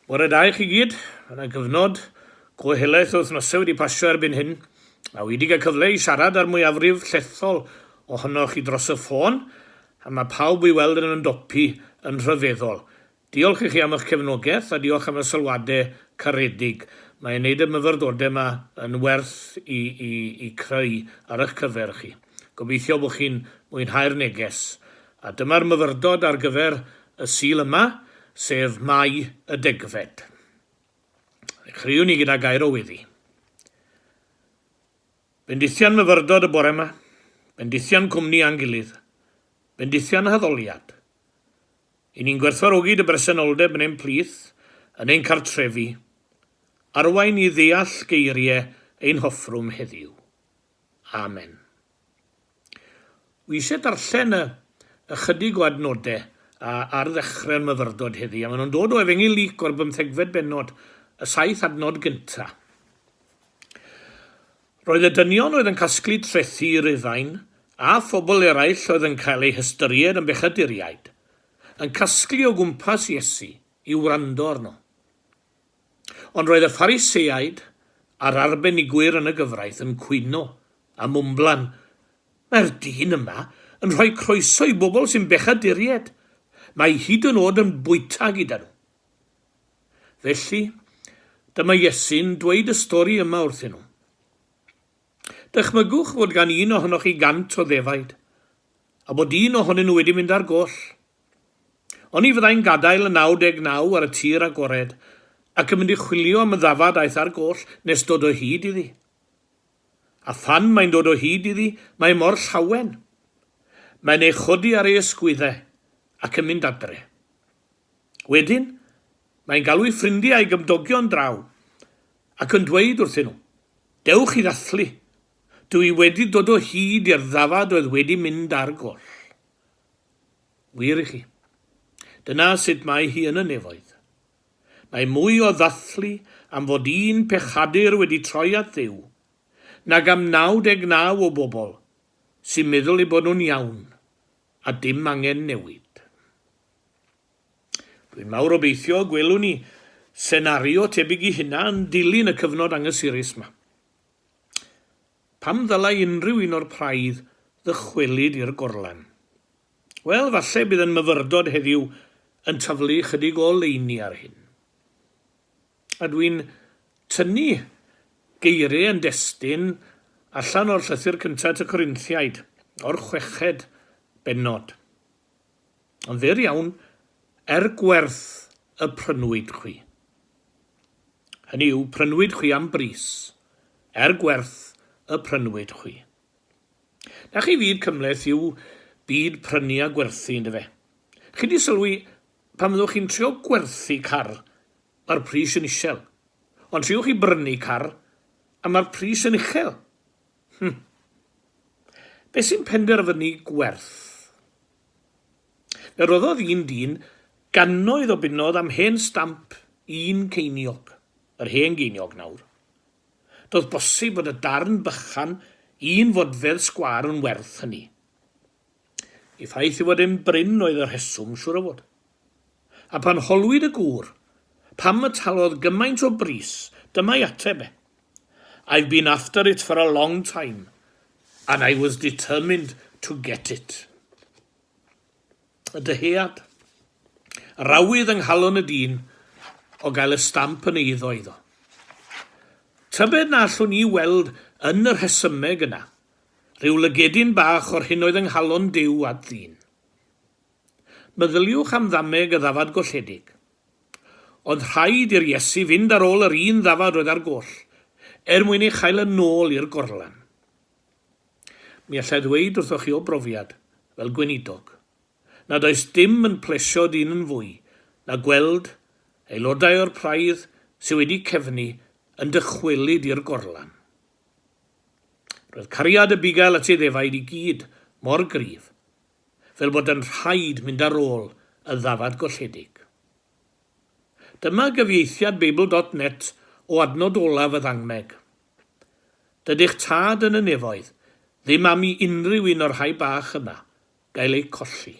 Bore da i chi gyd, mae yna gyfnod go helaeth o wythnosau wedi pasio erbyn hyn, a wi wedi cael cyfle i siarad â'r mwyafrif llethol ohonoch chi dros y ffôn, a mae pawb o'i weld yn ymdopi yn rhyfeddol. Diolch i chi am eich cefnogaeth a diolch am y sylwadau caredig, mae e'n neud y myfyrdodau yma yn werth i i i creu ar eich cyfer chi. Gobeithio bod chi'n mwynhau'r neges. A dyma'r myfyrdod ar gyfer y Sul yma, sef Mae y Degfed. Ddechreuwn ni gyda gair o weddi. Bendithion myfyrdod y bore yma, bendithion cwmni a'n gilydd, bendithion haddoliad. I ni'n gwerthfawrogi dy bresenoldeb yn ein plith, yn ein cartrefi, arwain i ddeall geiriau ein hoffrwm heddiw. Amen. Wi isie darllen y ychydig o adnode a ar ddechre'r myfyrdod heddi, a mae nhw'n dod o efengyl Luc o'r bymthegfed bennod, y saith adnod gynta. Roedd y dynion oedd yn casglu trethi i Rufain, a phobl eraill oedd yn cael eu hystyried yn bechaduriaid, yn casglu o gwmpas Iesu i wrando arno. Ond roedd y Phariseaid a'r arbenigwyr yn y gyfraith yn cwyno a mwmblan, Mae'r dyn yma yn rhoi croeso i bobl sy'n bechaduriaid. Mae hyd yn oed yn bwyta gyda nhw. Felly, dyma Iesu'n dweud y stori yma wrthyn nhw. Dychmygwch fod gan un ohonoch chi gant o ddefaid, a bod un ohonyn nhw wedi mynd ar goll. Oni fyddai'n gadael y 99 ar y tir agored ac yn mynd i chwilio am y ddafad aeth ar goll nes dod o hyd iddi? A phan mae'n dod o hyd iddi, mae e mor llawen. Mae'n ei chodi ar ei ysgwyddau ac yn mynd adre. Wedyn, mae'n galw'i ffrindiau a'i gymdogion draw ac yn dweud wrthyn nhw, Dewch i ddathlu, dw i wedi dod o hyd i'r ddafad oedd wedi mynd ar goll. Wir i chi. Dyna sut mae hi yn y nefoedd. Mae mwy o ddathlu am fod un pechadur wedi troi at Dduw, nag am 99 o bobl sy'n meddwl eu bod nhw'n iawn a dim angen newid. Dwi'n mawr obeithio y gwelwn ni senario tebyg i hynna yn dilyn y cyfnod anghysurus 'ma. Pam ddylai unrhyw un o'r praidd ddychwelyd i'r gorlan? Wel, falle bydd yn myfyrdod heddiw yn taflu ychydig o oleuni ar hyn. A dw i'n tynnu geiriau yn destun allan o'r llythyr cyntaf at y Corinthiaid, o'r chweched bennod. Yn fyr iawn, er gwerth y prynwyd chwi. Hynny yw, prynwyd chwi am bris, er gwerth y prynwyd chwi. Na chi fyd cymhleth yw byd prynu a gwerthu, ynddo fe? Chi di sylwi, pan fyddwch chi'n trio gwerthu car, mae'r pris yn isel. Ond triwch chi brynu car, a mae'r pris yn uchel. Hm. Be sy'n penderfynu gwerth? Fe roddodd un dyn gannoedd o bunnoedd am hen stamp un ceiniog, yr hen geiniog nawr. Doedd bosib fod y darn bychan un fodfedd sgwâr yn werth hynny. Y ffaith ei fod e'n brin oedd y rheswm, siŵr o fod. A phan holwyd y gŵr pam y talodd gymaint o bris, dyma'i ateb e, I've been after it for a long time, and I was determined to get it. Y dyhead. Rawydd yng nghalon y dyn o gael y stamp yn eiddo iddo. Tybed na allwn ni weld yn y rhesymeg yna Rhyw lygedyn bach o'r hyn oedd yng nghalon Duw at ddyn. Meddyliwch am ddameg y ddafad golledig. Oedd rhaid i'r Iesu fynd ar ôl yr un ddafad oedd ar goll, er mwyn ei chael yn ôl i'r gorlan. Mi alla i ddweud wrthoch chi o brofiad, fel gweinidog, nad oes dim yn plesio dyn yn fwy na gweld aelodau o'r praidd sydd wedi cefnu yn dychwelyd i'r gorlan. Roedd cariad Abigail at ei ddefaid i gyd mor gryf, fel bod yn rhaid mynd ar ôl y ddafad golledig. Dyma gyfieithiad Beibl dot net o adnod olaf y ddangmeg. Dydych Tad yn y Nefoedd ddim am i unrhyw un o'r rhai bach yma gael eu colli.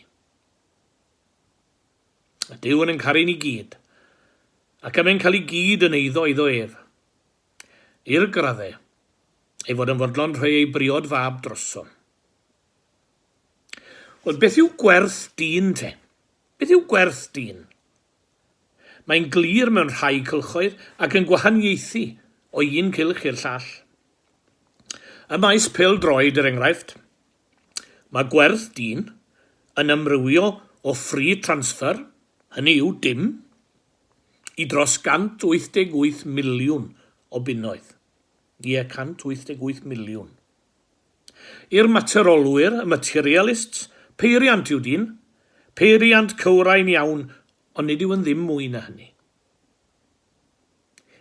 Mae Duw yn ein caru ni gyd, ac am ein cael i gyd yn eiddo iddo ef. i'r gradde ei fod yn fodlon rhoi ei briod fab droso. Wel, beth yw gwerth dyn te? Beth yw gwerth dyn? Mae'n glir mewn rhai cylchoedd ac yn gwahaniaethu o un cylch i'r llall. Y maes pel droed yr er enghraifft. Mae gwerth dyn yn ymrywio o free transfer, hynny yw dim, i dros 188 miliwn o bunnoedd, ie, 188 miliwn. I'r materolwyr, y materialists, peiriant yw dyn, peiriant cywrain iawn, ond nid yw'n ddim mwy na hynny.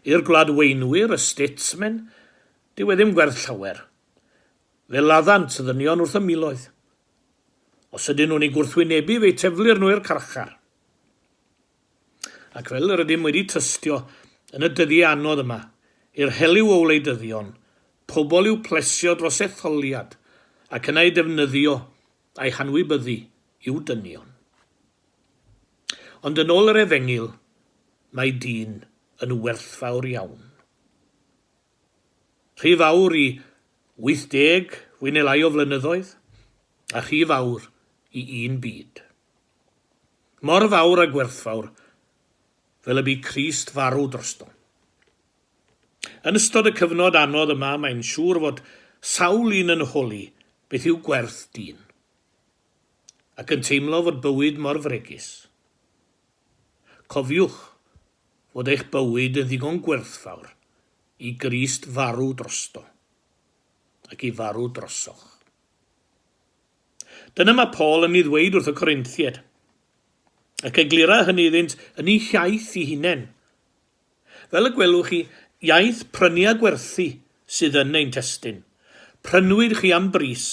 I'r gwladweinwyr, y statesmen, dyw e ddim gwerth llawer. Fe laddant y ddynion wrth y miloedd. Os ydyn nhw'n ei gwrthwynebu, fe'i teflir nhw i'r carchar. Ac fel yr ydym wedi tystio yn y dyddiau anodd yma, i'r heliw o wleidyddion, pobl i'w plesio dros etholiad ac yna eu defnyddio a'u hanwybyddu i'w dynion. Ond yn ôl yr Efengyl, mae dyn yn werthfawr iawn. Rhy fawr i 80 fwy neu lai o flynyddoedd, a rhy fawr i un byd. Mor fawr a gwerthfawr fel y bu Crist farw drosto. Yn ystod y cyfnod anodd yma mae'n siŵr fod sawl un yn holi beth yw gwerth dyn. Ac yn teimlo fod bywyd mor fregus. Cofiwch fod eich bywyd yn ddigon gwerthfawr i Grist farw drosto ac i farw drosoch. Dyna mae Paul yn ei ddweud wrth y Corinthiaid, ac eglura hynny iddynt yn eu hiaith eu hunain. Fel y gwelwch chi, iaith prynu a gwerthu sydd yn ein testun. Prynwyd chi am bris.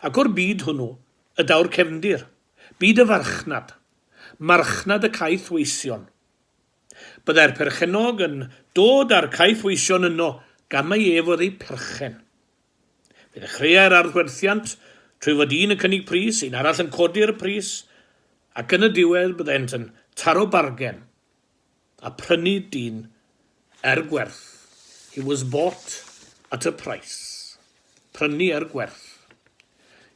Ac o'r byd hwnnw y daw'r cefndir, byd y farchnad, marchnad y caethweision. Byddai'r perchennog yn dod â'r caethweision yno gan mai ef oedd eu perchen. Fe ddechreuai'r arddwerthiant trwy fod un yn cynnig pris, un arall yn codi'r pris, ac yn y diwedd byddent yn taro bargen a phrynu dyn er gwerth, he was bought at a price, prynu er gwerth.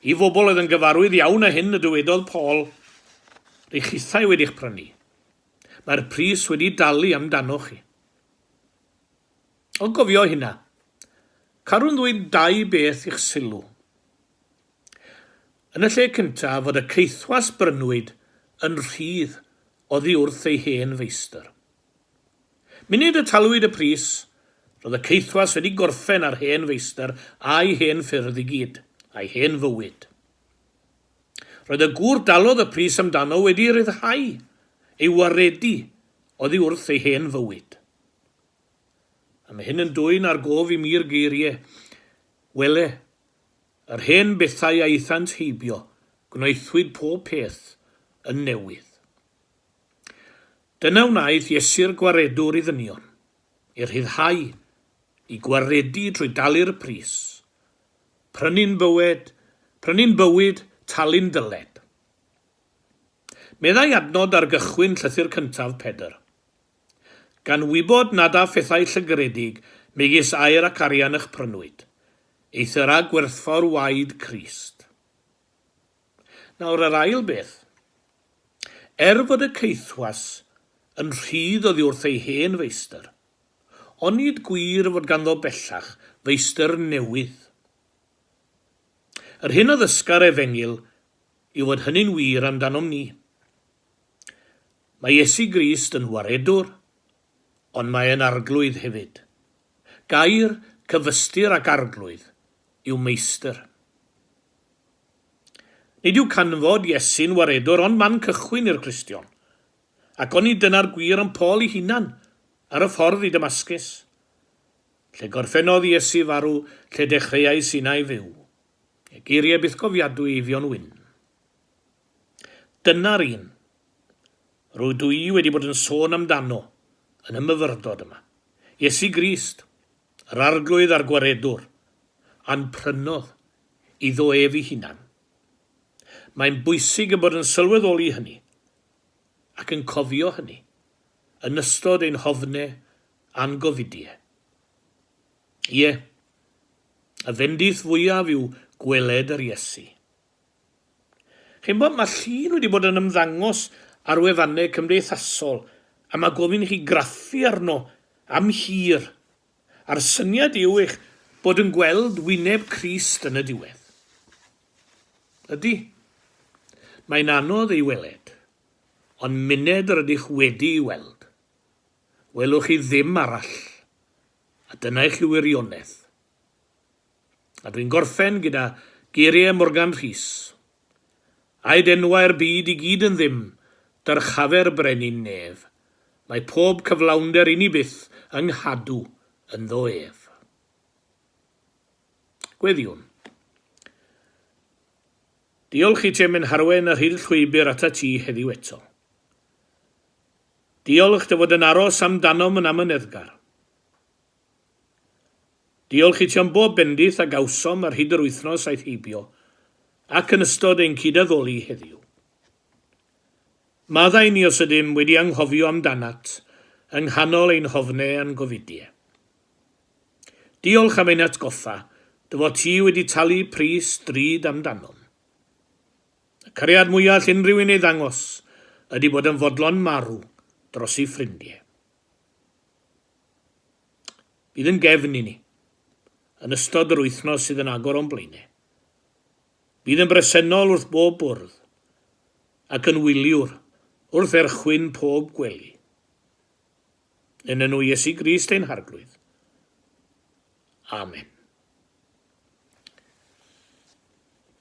I fobl oedd yn gyfarwydd iawn â hyn y dywedodd Paul, Rych hithau wedi'ch prynu. Mae'r pris wedi dalu amdanoch chi. Ond cofio hynna. Carwn ddweud dau beth i'ch sylw. Yn y lle cyntaf, fod y caethwas brynwyd yn rhydd oddi wrth ei hen feistr. Munud y talwyd y pris, roedd y caethwas wedi gorffen â'r hen feistr a'i hen ffyrdd i gyd, a'i hen fywyd. Roedd y gŵr dalodd y pris amdano wedi ryddhau ei waredu oddi wrth ei hen fywyd. A mae hyn yn dwyn ar gof i mi'r geirie, Wele, yr hen bethau a aethant heibio, gwnaethwyd pob peth yn newydd. Dyna wnaeth Iesu'r Gwaredwr i ddynion, i rhyddhau, i gwaredu trwy dalu'r pris, prynu'n bywed, prynu'n bywyd, talu'n dyled. Meddai adnod ar gychwyn llythyr cyntaf Pedr, Gan wybod nad â phethau llygredig megis aer ac arian ych prynwyd, ei thyra gwerthfawr waed Crist. Nawr yr ail beth. Er fod y caethwas yn rhydd oddi wrth ei hen feistr, onid gwir fod ganddo bellach feistr newydd? Yr hyn a ddysga'r Efengyl yw fod hynny'n wir amdanom ni. Mae Iesu Grist yn Waredwr, ond mae e'n Arglwydd hefyd. Gair cyfystyr ac Arglwydd yw Meistr. Nid yw canfod Iesu'n Waredwr ond man cychwyn i'r Cristion, ac oni dyna'r gwir am Paul ei hunan ar y ffordd i Damascus. Lle gorffennodd Iesu farw, lle dechreuais innau fyw. Geiriau bythgofiadwy Eifion Wyn. Dyna'r un rydw i wedi bod yn sôn amdano yn y myfyrdod yma. Iesu Grist, yr Arglwydd a'r Gwaredwr, a'n prynodd iddo ef ei hunan. Mae'n bwysig ein bod yn sylweddoli hynny ac yn cofio hynny yn ystod ein hofne a'n gofidie. Ie, y fendith fwyaf yw gweled yr Iesu. Chi'n gwybod, mae llun wedi bod yn ymddangos ar wefannau cymdeithasol a mae gofyn i chi graffu arno am hir, a'r syniad yw eich bod yn gweld wyneb Crist yn y diwedd. Ydy. Mae'n anodd ei weled, ond myned yr ydych wedi'i weld, welwch chi ddim arall, a dyna i chi wirionedd. A dwi'n gorffen gyda geiriau Morgan Rhys, Aed enwau'r byd i gyd yn ddim, dyrchafer brenin nef, mae pob cyflawnder inni byth yng nghadw ynddo ef. Gweddïwn. Diolch i Chairman Harwen a rhydd llwybr ata ti heddiw eto. Diolch dy fod yn aros amdanom yn amyneddgar. Diolch i ti am bob bendith a gawsom ar hyd yr wythnos aeth heibio ac yn ystod ein cyd-addoli heddiw. Maddau ni os ydym wedi anghofio amdanat yng nghanol ein hofnau a'n gofidie. Diolch am ein atgoffa dy fod ti wedi talu pris drud amdanom. Y cariad mwya all unrhyw un ei ddangos ydy bod yn fodlon marw dros ei ffrindie. Bydd yn gefn i ni yn ystod yr wythnos sydd yn agor o'n blaenau. Bydd yn bresennol wrth bob bwrdd ac yn wyliwr wrth erchwyn pob gwely. Yn enw Iesu Grist ein Harglwydd. Amen.